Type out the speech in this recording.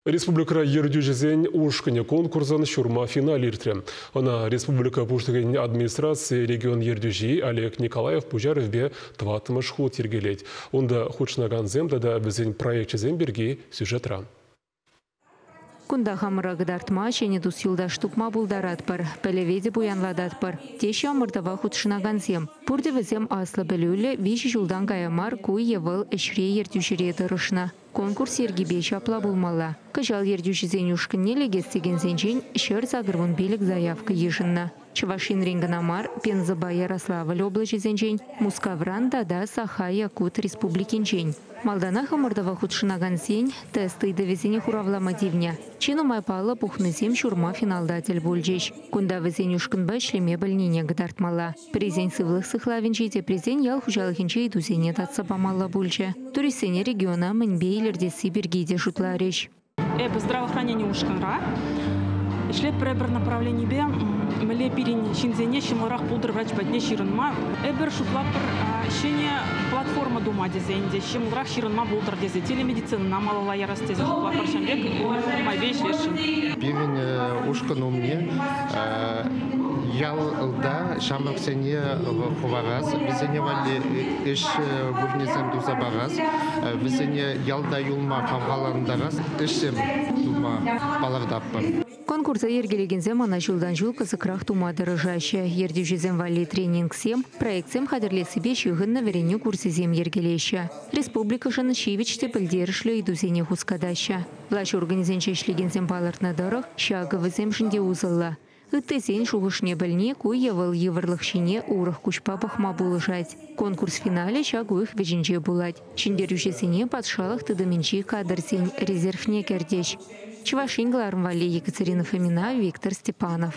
Республикӑра ертӳҫӗсен ушкӑнӗ конкурсӑн ҫурма финалӗ иртрӗ. Ӑна республика Пуҫлӑхӗн администрацийӗ регион ертӳҫи Олег Николаев пуҫарӑвӗпе тӑваттӑмӗш хут йӗркелет. Унта хутшӑнакансем тата вӗсен проекчӗсем пирки сюжетра. Кунта хамӑра кӑтартма, ҫӗнӗ тус-юлташ тупма пултаратпӑр, пӗлӗве те пуянлататпӑр, теҫҫӗ ӑмӑртӑва хутшӑнакансем. Пурте вӗсем аслӑ пӗлӳллӗ, виҫӗ ҫултан кая мар ку е вӑл ӗҫре ертӳҫӗре тӑрӑшнӑ. Конкурс йӗркипе ҫапла пулмалла. Кӑҫал ертӳҫӗсен ушкӑнне лекес текенсенчен ҫӗр сакӑр вун пилӗк заявка йышӑннӑ. Чӑваш Енрен кӑна мар, Пензӑпа Ярославль облаҫӗсенчен, Мускавран тата Саха-Якут Республикинчен. Малтанах ӑмӑртӑва хутшӑнакансен тест ыйтӑвӗсене хуравлама тивнӗ. Чи нумай паллӑ пухнӑсем ҫурма финалта тӗл пулчӗҫ. Кунта вӗсен ушкӑнпа ӗҫлеме пӗлнине кӑтартмалла. Пӗрисен сывлӑх сыхлавӗнчи, теприсен ял хуҫалӑхӗнче ыйтусене татса памалла пулчӗ. Туристсене региона мӗнпе илӗртесси пирки те шутларӗҫ. Эпӗ здравоохранени ушкӑнра ӗҫлетпӗр пӗр направленипе мӗнле пирӗн ҫынсене ҫӑмӑлрах пултӑр врач патне ҫырӑнма. Эпир шутлатпӑр ҫӗнӗ платформа тума тесе ӗнтӗ ҫӑмӑлрах ҫырӑнма пултӑр тесе телемедицинӑна малалла ярас тесе шутлатпӑр ҫын пек нумайпе ӗҫлесшӗн. Пирӗн ушкӑн умне Ялта ҫамрӑксене хӑварас, вӗсене валли ӗҫ вырӑнӗсем туса парас, вӗсене ялта юлма хавхалантарас ӗҫсем тума палӑртатпӑр. Конкурса йӗркелекенсем ӑна ҫултан-ҫул кӑсӑкрах тума тӑрӑшаҫҫӗ. Ертӳҫӗсем валли тренингсем, проектсем хатӗрлессипе ҫыхӑннӑ вӗренӳ курсӗсем йӗркелеҫҫӗ. Республикӑшӑн ҫивӗч те пӗлтерӗшлӗ ыйтусене хускатаҫҫӗ. Влаҫ органӗсенче ӗҫлекенсем палӑртнӑ тӑрӑх, ҫакӑ вӗсемшӗн те усӑллӑ. Ыттисен шухӑшне пӗлни ку е вӑл йывӑрлӑх ҫине урӑх куҫпа пӑхма пулӑшать. Конкурс финалӗ ҫак уйӑх вӗҫӗнче пулать. Ҫӗнтерӳҫӗсене патшалӑх тытӑмӗнчи кадрсен резервне кӗртӗҫ. Чӑваш Ен кӑларӑм валли Екатерина Фомина, Виктор Степанов.